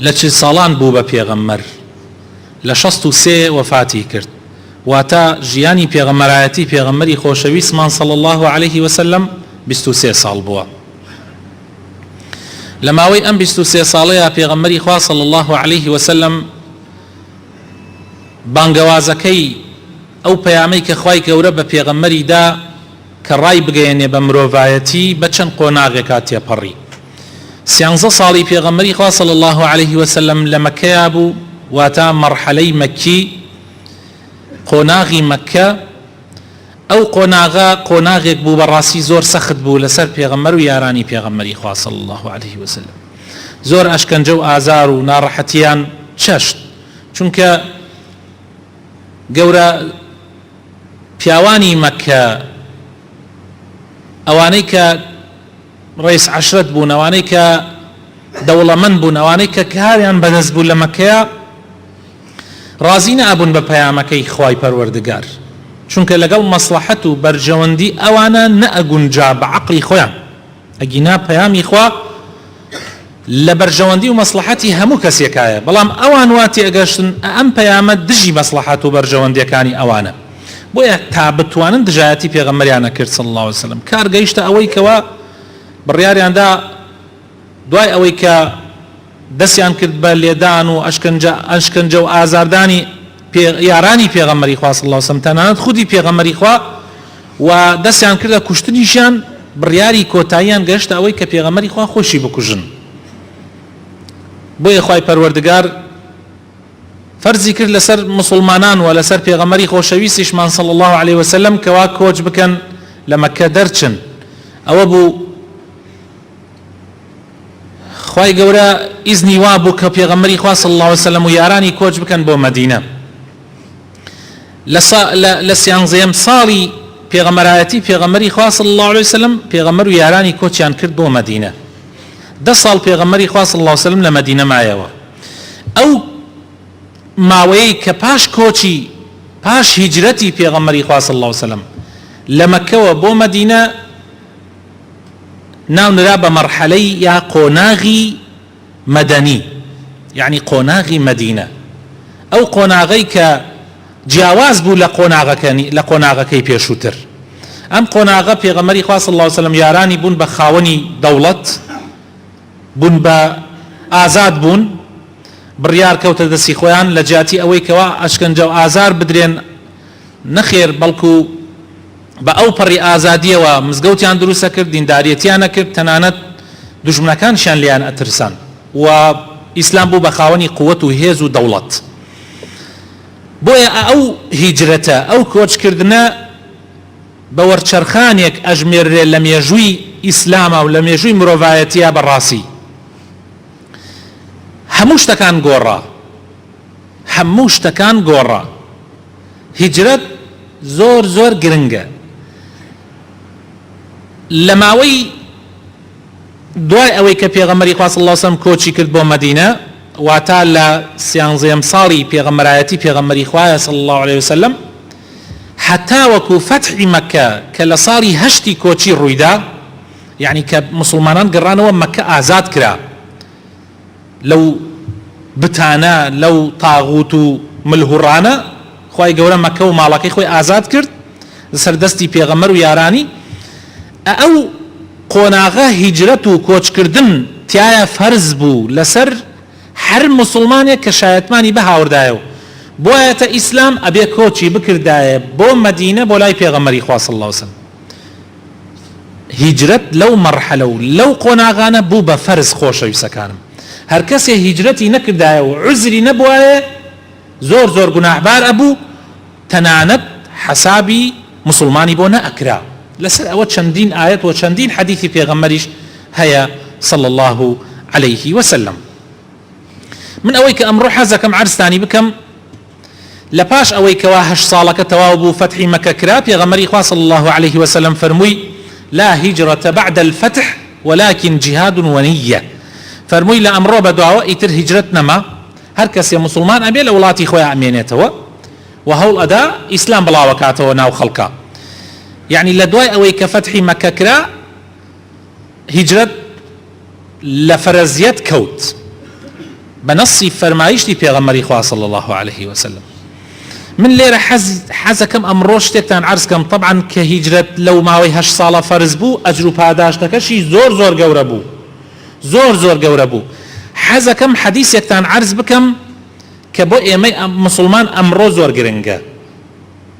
لە چل ساڵان بوو بە پێغەمبەر، لە شەست و سێ وەفاتی کرد، واتە ژیانی پێغەمبەرایەتی پێغەمبەری خۆشەویستمان صلی اللە علیە وسلم بیست و سێ ساڵ بووە. لە ماوەی ئەم بیست و سێ ساڵەیا پێغەمبەری خوا صلی اللە علیە وسلم بانگەوازەکەی ئەو پەیامەی کە خوای گەورە بە پێغەمبەری دا، کە ڕایبگەیەنێ بە مرۆڤایەتی بە چەند قۆناغێکا تێپەڕی. سیانزە ساڵی پێغەمبەری خوا صلی اللە علیە وسلم لە مەککەیا بوو، واتە مەرحەلەی مەکی، قۆناغی مەککە، ئەو قۆناغە قۆناغێک بوو بەڕاستی زۆر سەخت بوو لەسەر پێغەمبەر و یارانی پێغەمبەری خوا صلی اللە علیە وسلم زۆر ئەشکەنجە و ئازار و ناڕەحەتیان چەشت چونکە گەورە پیاوانی مەککە، ئەوانەی کە ڕەیس عەشرەت بوون، ئەوانەی کە دەوڵەمەند بوون، ئەوانەی کە کاریان بەدەست بوو لە مەککەیا، ڕازی نەئەبوون بە پەیامەکەی خوای پەروەردگار، چونکە لەگەڵ مەسڵەحەت و بەرژەوەندی ئەوانە نەئەگونجا بە عەقڵی خۆیان، ئەگینا پەیامی خوا، لە بەرژەوەندی و مەسڵەحەتی هەموو کەسێکایە، بەڵام ئەوان وا تێگەشتن ئەم پەیامە دژی مەسڵەحەت و بەرژەوەندیەکانی ئەوانە، بۆیە تا بتوانن دژایەتی پێغەمبەریان نەکرد صلی اللە علیە وسلم، کار گەیشتە ئەوەی کەوا بڕیاریان دا دوای ئەوەی کە دەستیان کرد بە لێدان و ئەشکەنجە و ئازاردانی، پێ یارانی پێغەمبەری خوا صلی اللە وسلم تەنانەت خودی پێغەمبەری خوا و دەستیان کردە کوشتنیشیان بڕیاری کۆتاییان گەشتە ئەوەی کە پێغەمبەری خوا خۆشی بکوژن بۆیە خوای پەروەردگار فەرزی کرد لەسەر مسلمانان و لەسەر پێغەمبەری خۆشەویستیشمان صلی الله علیه وسلم کەوا کۆچ بکەن لە مەکە دەرچن ئەوە بوو خوای گەورە ئیزنی وا بوو کە پێغەمبەری خوا صلی الله علیه وسلم و یارانی کۆچ بکەن بۆ مەدینە لە سیانزەیەم ساڵی پێغەمەرایەتی پێغەمەری خوا صلی الله علیه وسلم پێغەمەر و یارانی کۆچیان کرد بۆ مەدینە دە ساڵ پێغەمەری خوا صلی الله علیه وسلم لە مەدینە مایەوە ئەو ماوەیەی کە پاش کۆچی پاش هیجرەتی پێغەمەری خوا صلی الله علیه وسلم لە مەکەوە بۆ مەدینە ناونرا بە مەرحەلەی یا قۆناغی مەدەنی یەعنی قۆناغی مەدینە ئەو قۆناغەی کە جیاواز بوو لە قۆناغەکەنی لە قۆناغەکەی پێشووتر ئەم قۆناغە پێغەمەری خواست الله وسلم یارانی بوون بە خاوەنی دەوڵەت بوون بە ئازاد بوون بڕیار کەوتە دەستی خۆیان لە جیاتی ئەوەی کەوا ئەشکەنجە و ئازار بدرێن نەخێر بەڵکو بە ئەو پەڕی ئازادیەوە مزگەوتیان دروستە کرد دینداریەتیان ئەکرد تەنانەت دوژمنەکانشیان لێیان ئەترسان و ئیسلام بوو بە خاوەنی قوت و هێز و دەوڵەت بۆیە ئەو هیجرەتە ئەو کۆچ کردنە بە وەرچەرخانێک ئەژمێررێ لە مێژووی ئیسلامە و لە مێژووی مرۆڤایەتیە بە ڕاسی هەموو شتەکان گۆڕا هەموو شتەکان گۆڕا هیجرەت زۆر زۆر گرنگە لە ماوەی دوای ئەوەی کە پێغەمەری خوا صلی الله علیه وسلم کۆچی کرد بۆ مەدینە واتا لە سیانزەیەم ساڵی پێغەمبەرایەتی پێغەمبەری خوایە صلی الله علیه وسلم حتا وەکو فەتحی مەکە کە لە ساڵی هەشتی کۆچی ڕوویدا یعنی کە مسلمانان گەڕانەوە مەکە ئازاد کرا لەو بتانە لەو طاغوت و ملهوڕانە خوای گەورە مەکە و ماڵەکەی خۆی ئازاد کرد لەسەر دەستی پێغەمبەر و یارانی ئە ئەو قۆناغە هیجرەت و کۆچ کردن تیایا فەرز بوو لەسەر هەر موسڵمانێک کە شایەتمانی بهاوردایە و بوایەتە ئیسلام ئەبێ کۆچی بکردایە بۆ مەدینە بۆ لای پێغەمبەری خوا صلی اللە وسلم هیجرەت لەو مەرحەلە و لەو قۆناغانە بوو بە فەرز خۆشەویستەکانم هەر کەسێ هیجرەتی نەکردایە و عوزری نەبوایە زۆر زۆر گوناحبار ئەبوو تەنانەت حەسابی موسڵمانی بۆ نەئەکرا لەسەر ئەوە چەندین ئایەت و چەندین حەدیسی پێغەمبەریش هەیە صلی اللە علیه و سلم من ئەوەی کە ئەمڕۆ حەزەکەم عەرزتانی بکەم لە پاش ئەوەی کەوا هەشت ساڵەکە تەواو بوو فەتحی مەکە کرا پێغەمبەری خوا صلی اللە علیە وسلم فەرمووی، لا هجرة بعد الفتح ولکن جهاد ونیە، فەرمووی لە ئەمڕۆ بەدواوە ئیتر هیجرەت نەما هەر کەسێ موسڵمان ئەبێ لە وڵاتی خۆیا ئەمێنێتەوە و هەوڵ ئەدا ئیسلام بڵاو ئەکاتەوە ناو خەڵکا یەعنی لە دوای ئەوەی کە فەتحی مەکە کرا هیجرەت لە فەرەزیەت کەوت بە نەصی فەرمایشتی پێغەمبەری خوا صلی اللە علیە وسلم من لێرە حەز حەزەکەم ئەمڕۆ شتێکتان عەرز کەم طبعا کە هیجرەت لەو ماوەی هەشت ساڵە فەرز بوو ئەجر و پاداشتەکەشی زۆر زۆر گەورە بوو زۆر زۆر گەورە بوو حەزەکەم حەدیسێکتان عەرز بکەم کە بۆ ئێمەی مسلمان ئەمڕۆ زۆر گرنگە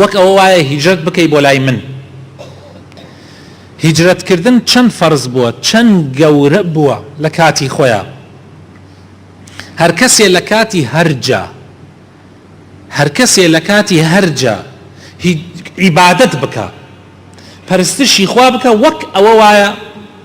وەک ئەوە وایە هیجرەت بکەی بۆ لای من هیجرەت کردن چەند فەرز بووە چەند گەورە بووە لە کاتی خۆیە هەر کەسێ لە کاتی هەرجا هەر کەسێ لە کاتی هەرجا عیبادت بکە پەرستشی خوا بکە وەک ئەوە وایە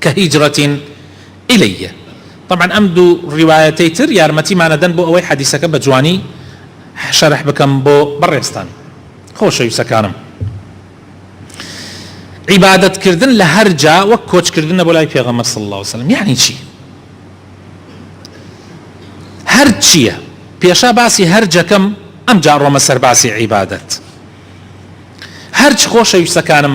کهجرة الیه طبعا ئەم دوو ڕیوایەتەی تر یارمەتیمان ئەدەن بۆ ئەوەی حەدیسەکە بە جوانی شەرح بکەم بۆ بەڕێزتان خۆشەویستەکانم عیبادەت کردن لە هەر جا وەک کۆچ کردنە بۆ لای پێغەمبەر صلی الله علیه وسلم یعنی چی هەر چییە پێشا باسی هەر جەکەم ئەم جا ڕۆمە سەر باسی عیبادەت هەرچ خۆشەویستەکانم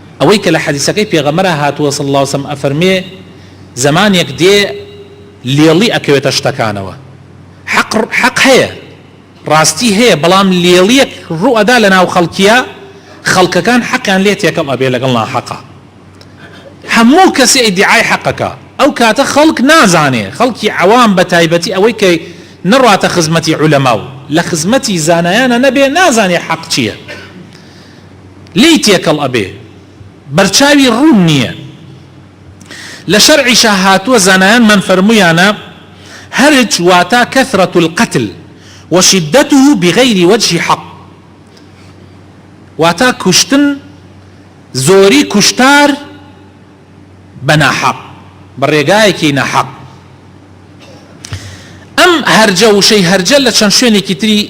ئەوەی کە لە حەدیسەکەی پێغەمبەرا هاتووە صلی اللە وسلم ئەفەرمێ، زەمانێک دێ لێڵی ئەکەوێتە شتەکانەوە، حەق حەق هەیە، ڕاستی هەیە، بەڵام لێڵیەک ڕوو ئەدا لە ناو خەڵکیا، خەڵکەکان حەقیان لێ تێکەڵ ئەبێ لەگەڵ ناحەقا، هەموو کەسێ ئیدیعای حەق ئەکا، ئەو کاتە خەڵک نازانێ، خەڵکی عەوام بە تایبەتی ئەوەی کە نەڕاتە خزمەتی عولەما و لە خزمەتی زانایانا نەبێ، نازانێ حەق چیە. لێی تێکەڵ ئەبێ بەرچاوی ڕوون نیە لە شەرعیشا هاتووە زانایانمان فەرموویانە هەرج واتا کثرة القتل وشدته بغیر وجه حق واتا کوشتن زۆری کوشتار بە ناحەق بە ڕێگایەکی ناحەق ئەم هەرجە وشەی هەرجە لە چەند شوێنێکی تری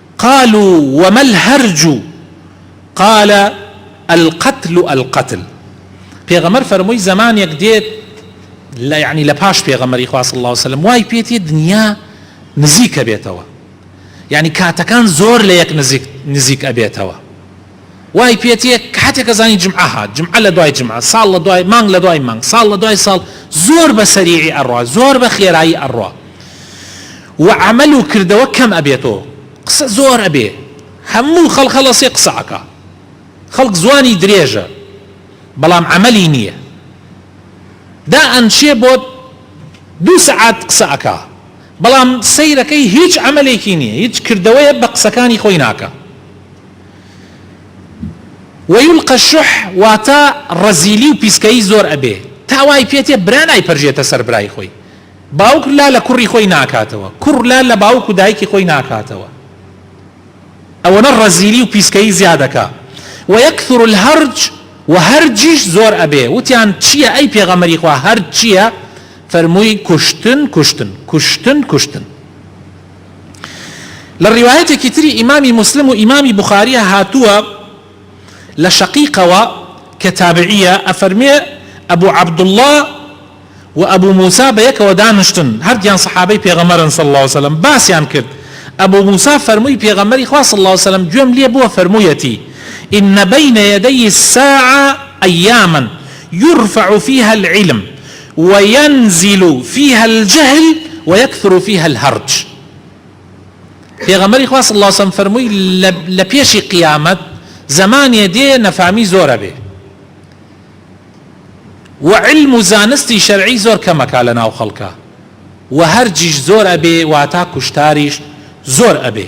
قالوا وما الهرج قال القتل القتل پێغەمبەر فەرمووی زەمانێک دێت لە یعنی لە پاش پێغەمبەری خوا صلی الله علیه وسلم وای پێتی دنیا نزیکە بێتەوە یعنی کاتەکان زۆر لە یەک نزیک نزیک ئەبێتەوە وای پێت یە کاتێکە زانی جمعە هات جمعە لە دوای جمعە ساڵ لە دوای مانگ لە دوای مانگ ساڵ لە دوای ساڵ زۆر بە سەریعی ئەڕوا زۆر بە خێرایی ئەڕوا و عەمەل و کردەوە کەم ئەبێتۆ قسە زۆر ئەبێ هەموو خەڵک هەڵەسێ قسە ئەکا خەڵک زوانی درێژە بەڵام عەمەلی نییە دا ئەنشێ بۆ دوو سەعات قسە ئەکا بەڵام سەیرەکەی هیچ عەمەلێکی نییە هیچ کردەوەیە بە قسەکانی خۆی ناکە ویلقە الشح واتە ڕەزیلی و پیسکەیی زۆر ئەبێ تا وای پێتێ برا نایپەرژێتە سەر برای خۆی باوک لا لە کوڕی خۆی ناکاتەوە کوڕ لا لە باوک و دایکی خۆی ناکاتەوە ئەوەنە ڕەزیلی و پیسکەیی زیادەکا ویکثر الهرج و هەرجیش زۆر ئەبێ وتیان چیە ئەی پێغەمبەری خوا هەرج چیە فەرمووی کوشتن کوشتن کوشتن کوشتن لە ڕیوایەتێکی تری ئیمامی موسلم و ئیمامی بوخاریە هاتووە لە شەقیقەوە کە تابعیە ئەفەرمێ ئەبو عەبدوڵڵا و ئەبو موسا بەیەکەوە دانشتن هەردووکیان سەحابەی پێغەمبەرن صلی اللە علیە وسلم باسیان کرد ئەبو موسا فەرمووی پێغەمبەری خوا صلی اللە علیە وسلم گوێم لێ بووە فەرموویەتی ان بین یدی الساعە ایاما یرفع فیها العلم وینزل فیها الجهل ویکثر فیها الهرج پێغەمبەری خوا صلی اللە وسلم فەرمووی لە پێشی قیامەت زەمانێ دێ نەفامی زۆر ئەبێ و علم و زانستی شەرعی زۆر کەمەکا لە ناو خەڵکا و هەرجیش زۆر ئەبێ واتا کوشتاریش زۆر ئەبێ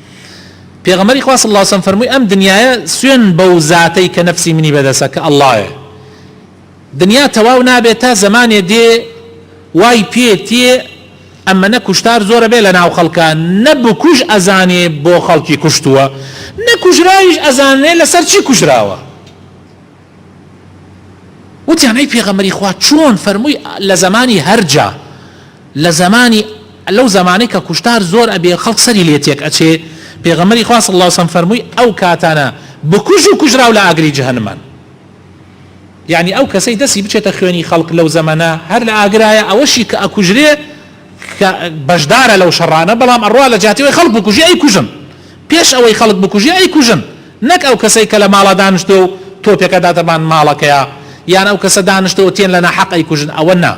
پێغەمبەری خوا صلی اللە علیە وسلم فەرمووی، ئەم دنیایە سوێن بەو زاتەی کە نەفسی منی بەدەستە کە اللەیە دنیا تەواو نابێت تا زەمانێ دێ وای پێ تێ ئەمەنە کوشتار زۆرە بێ لە ناو خەڵکە نەبکوژ ئەزانێ بۆ خەڵکی کوشتووە نەکوژراویش ئەزانێ لەسەر چی کوژراوە وتیان ئەی پێغەمبەری خوا چۆن فەرمووی لە زەمانی هەرجا لە زەمانی لەو زەمانەی کە کوشتار زۆر ئەبێ خەڵک سەری لێ تێک ئەچێ پێغەمبەری خوا صلی اللە علیە وسلم فەرمووی ئەو کاتانە بکوژ و کوژراو لە ئاگری جەهەنمان یعنی ئەو کەسەی دەسی بچێتە خوێنی خەڵک لەو زەمەنە هەر لە ئاگرایە ئەوەشی کە ئەکوژرێ کە بەشدارە لەو شەڕانە بەڵام ئەڕوا لە جیاتی ئەوەی خەڵک بکوژی ئەیکوژن پێش ئەوەی خەڵک بکوژی ئەیکوژن نەک ئەو کەسەی کە لە ماڵا دانشتوە و تۆپێک ئەداتە بان ماڵەکەیا یان ئەو کەسە دانشتوە و تێن لە ناحەق ئەیکوژن ئەوە نا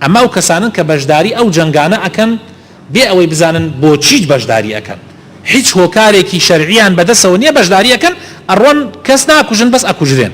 ئەمە ئەو کەسانەن کە بەشداری ئەو جەنگانە ئەکەن بێ ئەوەی بزانن بۆچیت بەشداری ئەکەن هیچ هۆکارێکی شەرعیان بەدەسەوە نیە بەشداری ئەکەن ئەڕۆن کەس ناکوژن بەس ئەکوژرێن.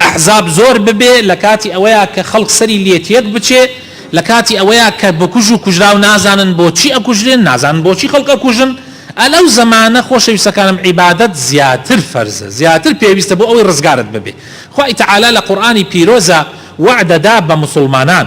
ئەحزاب زۆر ببێ لەکاتی ئەوەیە کە خەڵک سەری لێتێک بچێ لەکاتی ئەوەیە کە بکوژ و کوژراو نازانن بۆچی ئەکوژرێن نازانن بۆچی خەڵک ئەکوژن ئە لەو زەمانە خۆشەویستەکانم عیبادەت زیاتر فەرزە زیاتر پێویستە بۆ ئەوەی ڕزگارت ببێ خوای تەعالا لە قورئانی پیرۆزا وەعدەدا بە موسوڵمانان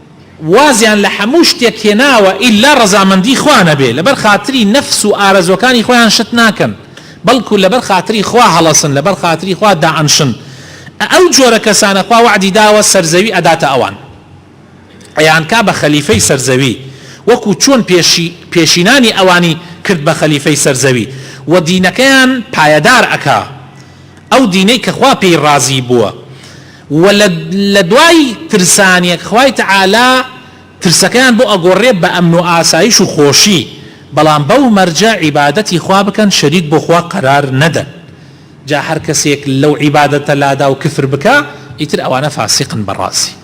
وازیان لە هەموو شتێک هێناوە ئیلا ڕەزامەندی خوا نەبێ لەبەر خاتری نەفس و ئارەزوەکانی خۆیان شت ناکەن بەڵکو لەبەر خاتری خوا هەڵەسن لەبەر خاتری خوا دائەنشن ئە ئەو جۆرە کەسانە خوا وەعدی داوە سەرزەوی ئەداتە ئەوان ئەیانکا بە خەلیفەی سەرزەوی وەکو چۆن پێشی پێشینانی ئەوانی کرد بە خەلیفەی سەرزەوی و دینەکەیان پایەدار ئەکا. ئەو دینەی کە خوا پێی ڕازی بووە و لە لە دوای ترسانێک خوای تەعالا ترسەکەیان بۆ ئەگۆڕێ بە ئەمن و ئاسایش و خۆشی بەڵام بەو مەرجە عیبادەتی خوا بکەن شەریک بۆ خوا قەرار نەدەن جا هەر کەسێک لەو عیبادەتە لادا و کفر بکا ئیتر ئەوانە فاسیقن بە ڕازی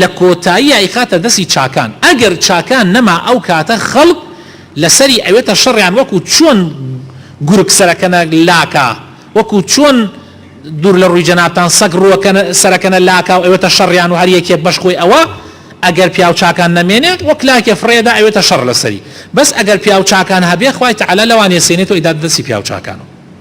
لە کۆتاییا ئەیخاتە دەستی چاکان ئەگەر چاکان نەما ئەو کاتە خەڵک لەسەری ئەوێتە شەڕیان وەکو چۆن گورگ سەرەکەنە لاکا وەکو چۆن دور لە ڕوی جەنابتان سەگ ڕوەکە سەرەکەنە لاکا و ئەوێتە شەڕیان و هەر یەکێک بەش خۆی ئەوە ئەگەر پیاو چاکان نەمێنێت وەک لاکێ فڕێدا ئەوێتە شەڕ لەسەری بەس ئەگەر پیاو چاکان هەبێت خوای تەعالا لەوان یەسێنێت و ئەیداتە دەستی پیاو چاکان و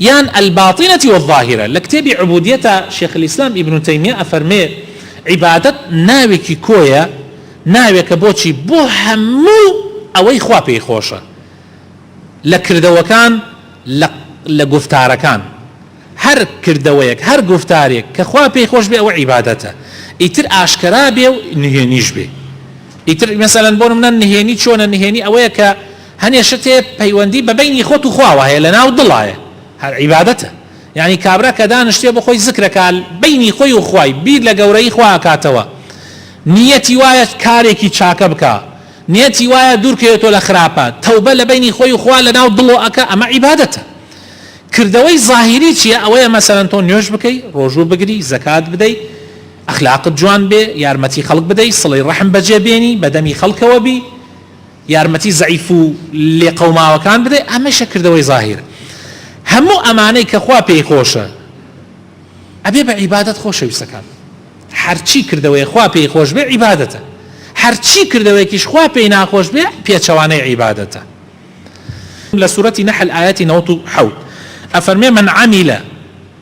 یان الباطنە والظاهرە، لە کتێبی عبودیەتا شێخ الاسلام ابن تیمیە ئەفەرمێ، عیبادەت ناوێکی کۆیە، ناوێکە بۆچی؟ بۆ هەموو ئەوەی خوا پێی خۆشە لە کردەوەکان لە لە گوفتارەکان، هەر کردەوەیەک هەر گوفتارێک کە خوا پێی خۆش بێ ئەوە عیبادەتە، ئیتر ئاشکرا بێ و نهێنیش بێ، ئیتر مەسەلەن بۆ نمونە نهێنی چۆنە؟ نهێنی ئەوەیە کە هەنێ شتێ پەیوەندی بە بەینی خۆت و خواوە هەیە لە ناو دڵایە هەر عیبادەتە یانی کابرا کە دانشتێ بۆ خۆی زکر ئەکا بەینی خۆی و خوای بیر لە گەورەیی خوا ئەکاتەوە نیەتی وایە کارێکی چاکە بکا نیەتی وایە دوور کەوێتەوە لە خراپە تەوبە لە بەینی خۆی و خوا لە ناو دڵۆ ئەکا ئەمە عیبادەتە کردەوەی زاهیری چییە ئەوەیە مەسەلەن تۆ نوێژ بکەی ڕۆژوو بگری زەکات بدەی ئەخلاقت جوان بێ یارمەتی خەڵک بدەی سڵی ڕەحم بەجێ بێنی بەدەمی خەڵکەوە بی یارمەتی زەعیف و لێقەوماوەکان بدەی ئەمەیشە کردەوەی زاهیر هەموو ئەمانەی کە خوا پێی خۆشە ئەبێ بە عیبادەت خۆشەویستەکان هەرچی کردەوەی خوا پێی خۆش بێ عیبادەتە هەرچی کردەوەیەکیش خوا پێی ناخۆش بێ پێچەوانەی عیبادەتە لە سورەتی نەحل ئایەتی نەوەد و حەوت ئەفەرمێ من عەمیلە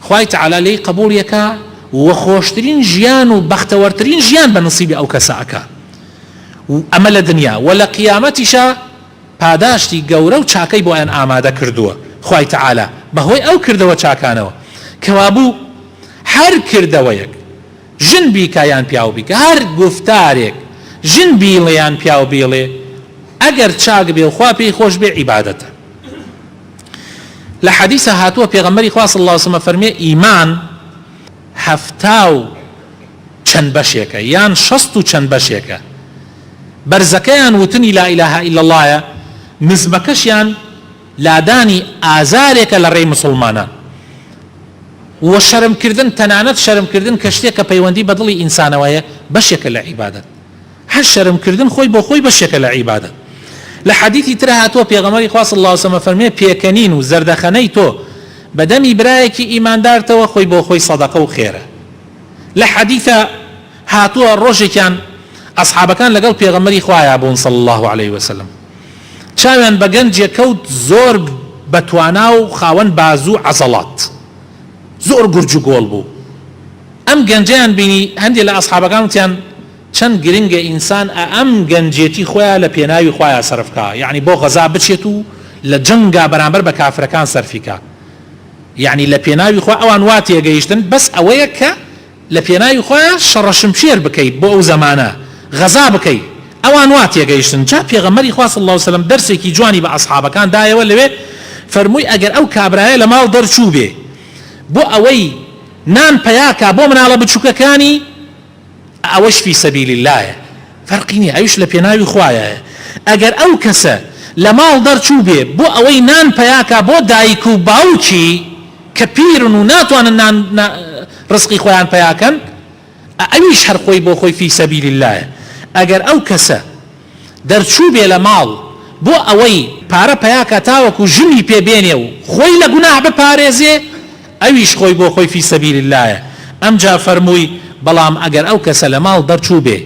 خوای تەعالا لێی قەبوڵی ئەکا و خۆشترین ژیان و بەختەوەرترین ژیان بە نسیبی ئەو کەسە ئەکا و ئەمە لە دنیا وە لە قیامەتیشا پاداشتی گەورە و چاکەی بۆیان ئامادە کردووە خوای تەعالا بە هۆی ئەو کردەوە چاکانەوە کەوابوو هەر کردەوەیەک ژن بیکا یان پیاو بیکا هەر گوفتارێک ژن بیڵێ یان پیاو بیڵێ ئەگەر چاک بێ و خوا پێی خۆش بێ عیبادەتە. لە حەدیثە هاتووە پێغەمبەری خوا صلی الله وسلم فەرمێ ئیمان هەفتا و چەند بەشێکە یان شەست و چەند بەشێکە بەرزەکەیان وتنی لا اله الا اللهە نزمەکەشیان لادانی ئازارێکە لە ڕێی مسلمانان و شەرمکردن تەنانەت شەرمکردن کە شتێک کە پەیوەندی بە دڵی ئینسانەوەیە بەشێکە لە عیبادەت هەر شەرم کردن خۆی بۆ خۆی بەشێکە لە عیبادەت لە حەدیسی ترا هاتووە پێغەمبەری خوا صلی اللە علیە و سلم ئەفەرموێ پێکەنین و زەردەخەنەی تۆ بە دەمی برایەکی ئیماندارتەوە خۆی بۆ خۆی سەدەقە و خێرە لە حەدیسا هاتووە ڕۆژێکیان ئەسحابەکان لەگەڵ پێغەمبەری خوایا بوون صلی اللە علیە و سلم چاویان بە گەنجێک کەوت زۆر بە توانا و خاوەن بازوو عەزەڵات زۆر گورج و گۆڵ بوو ئەم گەنجەیان بینی هەندێ لە ئەسحابەکان وتیان چەند گرنگە ئینسان ئە ئەم گەنجێتی خۆیا لە پێناوی خوایا سەرف کا یەعنی بۆ غەزا بچێت و لە جەنگا بەرامبەر بە کافرەکان سەرفی کا یەعنی لە پێناوی خوا ئەوان وا تێگەیشتن بەس ئەوەیە کە لە پێناوی خوایا شەڕە شمشێر بکەی بۆ ئەو زەمانە غەزا بکەی ئەوان وا تێگەیشتن جا پێغەمبەری خوا صلی اللە و سلم دەرسێکی جوانی بە ئەسحابەکان دایەوە لەوێ فەرمووی ئەگەر ئەو کابرایە لە ماڵ دەرچووبێ بۆ ئەوەی نان پەیا کا بۆ مناڵە بچووکەکانی ئەوەش فی سبیل اللەیە فەرقی نیە ئەویش لە پێناوی خوایایە ئەگەر ئەو کەسە لە ماڵ دەرچوو بێ بۆ ئەوەی نان پەیاکا بۆ دایک و باوکی کە پیرن و ناتوانن نان ڕزقی خۆیان پەیاکەن ئەویش هەر خۆی بۆ خۆی فی سبیل اللەیە ئەگەر ئەو کەسە دەرچووبێ لە ماڵ بۆ ئەوەی پارە پەیا کا تاوەکو ژنی پێ بێنێ و خۆی لە گوناح بپارێزێ ئەویش خۆی بۆ خۆی فی سبیل اللە ئەمجا فەرمووی بەڵام ئەگەر ئەو کەسە لە ماڵ دەرچووبێ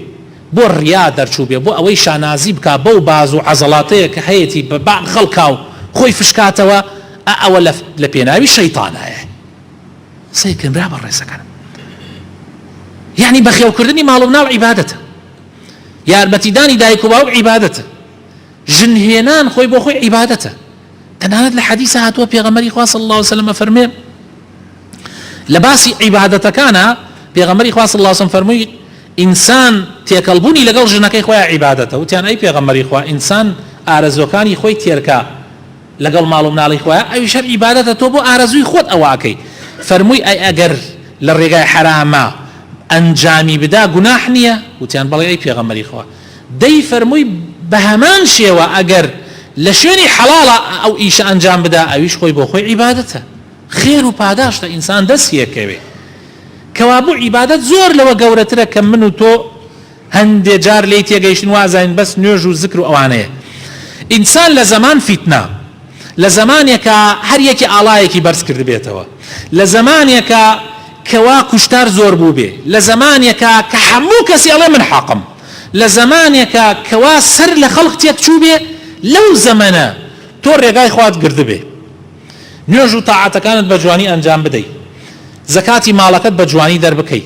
بۆ ریا دەرچووبێ بۆ ئەوەی شانازی بکا بەو باز و عەزەڵاتەیە کە هەیەتی بە بە خەڵکا و خۆی فشکاتەوە ئا ئەوە لە لە پێناوی شەیتانایە سەیرکەن برا بەڕێزەکانم یەعنی بەخێوکردنی ماڵ و مناڵ عیبادەتە. یارمەتیدانی دایک و باوک عیبادەتە، ژن هێنان خۆی بۆ خۆی عیبادەتە، تەنانەت لە حەدیسا هاتووە پێغەمبەری خوا صلی اللە علیه و سلم ئەفەرموێ لە باسی عیبادەتەکانا پێغەمبەری خوا صلی اللە علیه و سلم فەرمووی ئینسان تێکەڵبوونی لەگەڵ ژنەکەی خۆیان عیبادەتە، وتیان ئەی پێغەمبەری خوا ئینسان ئارەزووەکانی خۆی تێرکا، لەگەڵ ماڵ و مناڵی خۆیان ئەویش هەر ئیبادەتە تۆ بۆ ئارەزووی خۆت ئەوە ئەکەی فەرمووی ئەی ئەگەر لە ڕێگای حەرامە ئەنجامی بدا گوناح نییە وتیان بەڵێ ئەی پێغەمبەری خوا دەی فەرمووی بەهەمان شێوە ئەگەر لە شوێنی حەڵاڵە ئەو ئیشە ئەنجام بدا ئەویش خۆی بۆ خۆی عیبادەتە خێر و پاداشتە ئینسان دەست یەکەوێ کەوابوو عیبادەت زۆر لەوە گەورەترە کە من و تۆ هەندێ جار لێی تێگەیشتن وازانین بەس نوێژ و زکر و ئەوانەیە ئینسان لە زەمان فیتنە لە زەمانێکا هەر یەکی ئاڵایەکی بەرز کردبێتەوە لە زەمانێکا کەوا کوشتار زۆر بوو بێ لە زەمانێکا کە هەموو کەسی ئەڵێ من حەقم لە زەمانێکا کەوا سەر لە خەڵق تێک چوو بێ لەو زەمەنە تۆ ڕێگای خوات گردبێ نوێژ و تاعاتەکانت بە جوانی ئەنجام بدەی زەکاتی ماڵەکەت بە جوانی دەربکەی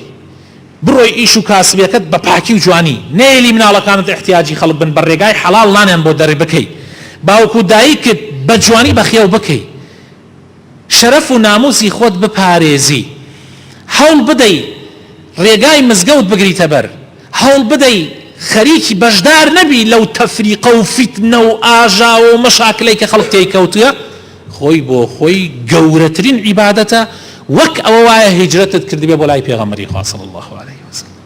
بڕۆی ئیش و کاسبیەکەت بە پاکی و جوانی نێلی مناڵەکانت احتیاجی خەڵک بن بە رێگای حەڵاڵ نانیان بۆ دەر بکەی باوک و دایکت بە جوانی بەخێو بکەی شەرەف و ناموسی خۆت بپارێزی هەوڵ بدەی رێگای مزگەوت بگریتە بەر هەوڵ بدەی خەریکی بەشدار نەبی لەو تەفریقە و فیتنە و ئاژاوە و مەشاکلەی کە خەڵک تێی کەوتوە خۆی بۆ خۆی گەورەترین عیبادەتە وەک ئەوە وایە هیجرەتت کردبێ بۆ لای پێغەمبەری خوا صلی اللە علیه وسلم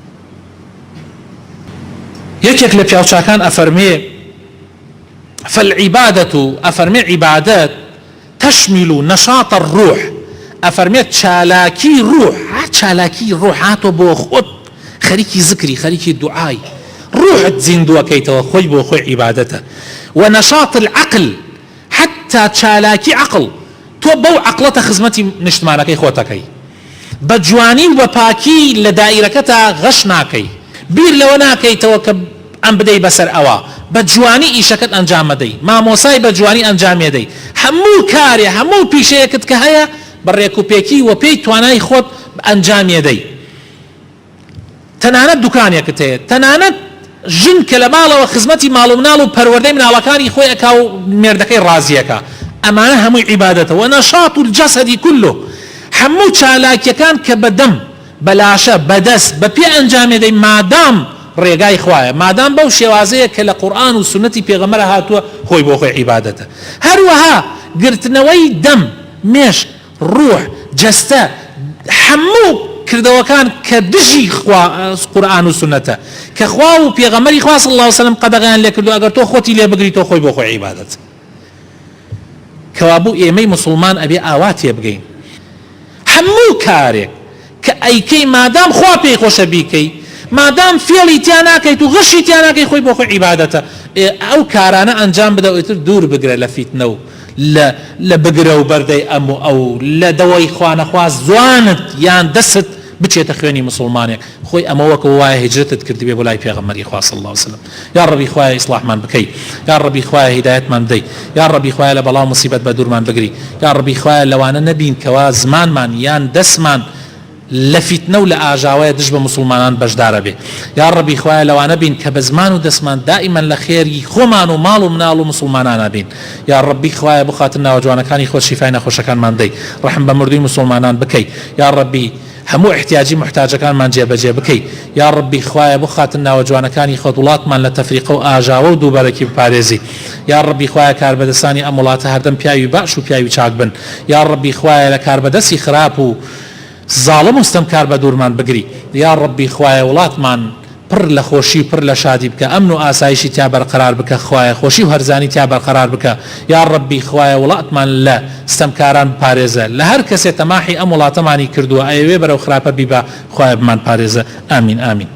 یەکێک لە پیاوچاکان ئەفەرمێ فالعبادة ئەفەرمێ عیبادەت تشمل و نەشاط الروح ئەفەرمێت چالاکی روح هەر چالاکی روحاتۆ بۆ خۆت خەریکی زکری خەریکی دوعای روحت زیندوەکەیتەوە خۆی بۆ خۆی عیبادەتە و نەشاط العقل حەتتا چالاکی عەقڵ تۆ بەو عەقڵەتە خزمەتی نیشتمانەکەی خۆتەکەی بە جوانی و بە پاکی لە دائیرەکەتا غەش ناکەی بیر لەوە ناکەیتەوە کە ئەم بدەی بەسەر ئەوە بە جوانی ئیشەکەت ئەنجام مەدەی مامۆسای بە جوانی ئەنجامێدەی هەموو کارێ هەموو پیشەیەکت کە هەیە بە رێکوپێکی وە پێی توانای خۆت ئەنجامێدەی تەنانەت دوکانێکت هەیە، تەنانەت ژن کە لە ماڵەوە خزمەتی ماڵ و مناڵ و پەروەردەی مناڵەکانی خۆی ئەکا و مێردەکەی ڕازی ئەکا، ئەمانە هەمووی عیبادەتە، ونشاط الجسد کله، هەموو چالاکیەکان کە بە دەم، بە لاشە، بە دەست، بە پێ ئەنجامێدەی مادام ڕێگای خوایە، مادام بەو شێوازەیە کە لە قورئان و سوننەتی پێغەمبەرا هاتووە خۆی بۆ خۆی عیبادەتە. هەروەها گرتنەوەی دەم، مێشک، ڕوح، جەستە، هەموو کردەوەکان کە دژی خوا، قورئان و سوننەتە، کە خوا و پێغەمبەری خوا صلی اللە علیە و سلم قەدەغەیان لێ کردووە، ئەگەر تۆ خۆتی لێ بگری تۆ خۆی بۆ خۆی عیبادەت کەوابوو ئێمەی موسڵمان ئەبێ ئاوا تێبگەین هەموو کارێک کە ئەیکەی مادام خوا پێی خۆشە بیکەی مادام فێڵی تیا ناکەیت و غشی تیا ناکەی خۆی بۆ خۆی عیبادەتە ئێ ئەو کارانە ئەنجام بدە ئیتر دوور بگرە لە فیتنە و لە لە بگرە و بەردەی ئەم و ئەو لە دەوەی خوا نەخوا زوانت یان دەستت بچێتە خوێنی موسوڵمانێک خۆی ئەمە وەکەوە وایە هیجرەتت کردبێ بۆ لای پێغەمبەری خوا صلی اللە و سلم یاڕەبی خوایە ئیسڵاحمان بکەی یاڕەبی خوایە هیدایەتمان بدەی یاڕەبی خوایە لە بەڵاو موسیبەت بەدورمان بگری یاڕەبی خوایە لەوانە نەبین کەوا زمانمان یان دەسمان لە فیتنە و لە ئاژاوەیە دژ بە موسڵمانان بەشدار ئەبێ یاڕەبی خوایە لەوانە بین کە بە زمان و دەسمان دائیمەن لە خێری خۆمان و ماڵ و مناڵ و موسڵمانان ئەبین یاڕەبی خوایە بۆ خاتر ناوە جوانەکانی خۆت شیفای نەخۆشەکانمان بدەی ڕەحم بە مردوی موسڵمانان بکەی یاڕەبی هەموو ئیحتیاجی موحتاجەکانمان جێ بەجێ بکەی یا ڕەبی خوایە بۆ خاتر ناوە جوانەکانی خۆت وڵاتمان لە تەفریقە و ئاژاوە و دووبەرەکی بپارێزی یا ڕەبی خوایە کاربەدەسانی ئەم وڵاتە هەردەم پیاوی بەعش و پیاوی چاک بن یا ڕەبی خوایە لە کاربەدەسی خراپ و زاڵم و ستەمکار بەدوورمان بگری یا ڕەبی خوایە وڵاتمان پڕ لە خۆشی و پڕ لە شادی بکە ئەمن و ئاسایشی تیا بەرقەرار بکە خوایە خۆشی و هەرزانی تیا بەرقەرار بکە یاڕەبی خوایە وڵاتمان لە ستەمکاران بپارێزە لە هەر کەسێ تەماحی ئەم وڵاتەمانی کردووە ئەیەوێ بەرەو خراپە بیبا خوایە بمان پارێزە ئامین ئامین.